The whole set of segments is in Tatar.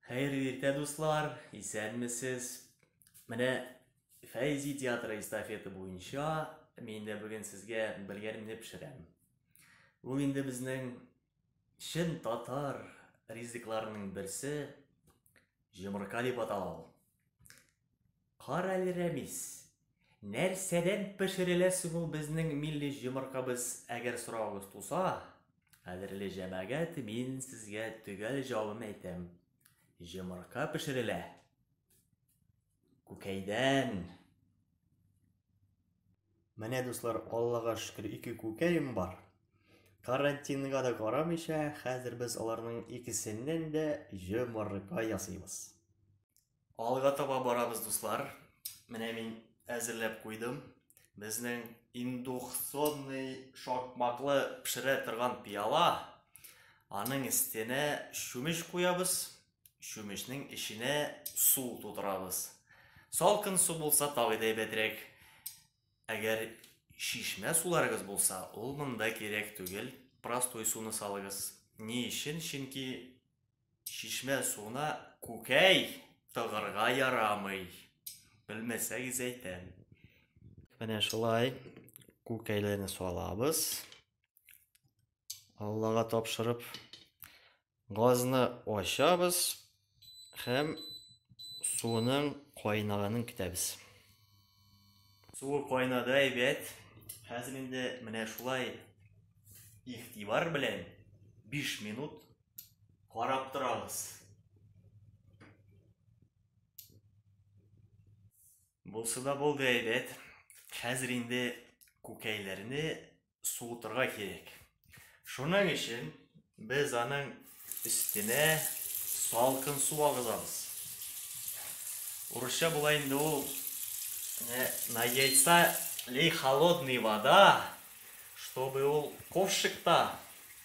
Хәерле иртә, дуслар! Исәнмесез! Менә Фәйзи театры эстафеты буенча мин дә бүген сезгә белгәнемне пешерәм. Ул инде безнең чын татар ризыкларының берсе җомырка дип атала ул. Карале, Рәмис, нәрсәдән пешерелә соң ул безнең милли җомыркабыз, әгәр соравыгыз туса, кадерле җәмәгать, мин сезгә төгәл җавабын әйтәм. Җомырка пешерелә. Күкәйдән. Менә, дуслар, Аллага шөкер, ике күкәем бар. Карантинга да карамыйча, хәзер без аларның икесеннән дә җомырка ясыйбыз. Алга таба барабыз, дуслар. Менә мин әзерләп куйдым. Безнең индукционный шакмаклы пешерә торган пиала. Аның өстенә чүмеч куябыз. Чүмечнең эченә су тутырабыз. Салкын су булса тагы да әйбәтрәк. Әгәр шишмә суларыгыз булса, ул монда кирәк түгел. Простой суны салыгыз. Ни өчен? Чөнки Чишмә суына күкәй тыгырга ярамый. Белмәсәгез әйтәм. Менә шулай күкәйләрне салабыз. Аллага тапшырып газны ачабыз һәм суның кайнаганын көтәбез. Суы кайнады әйбәт. Хәзер инде менә шулай игътибар белән 5 минут Карап торабыз. Булсы да булды әйбәт. Хәзер инде күкәйләрне суытырга кирәк. Шуның өчен без аның өстенә салкын су агызабыз. Урысча була инде ул на яйца лей холодный вода, чтобы ул ковшикта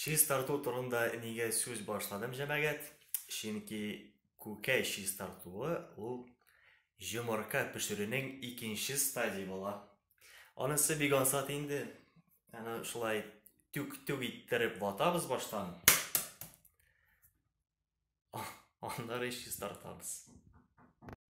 Чистарту турында нигә сүз башладым, җәмәгать? Чөнки күкәй чистартуы ул җомырка пешерүнең икенче стадии була. Анысы бик ансат инде. Аны шулай түк-түк иттереп ватабыз баштан. Аннары чистартабыз.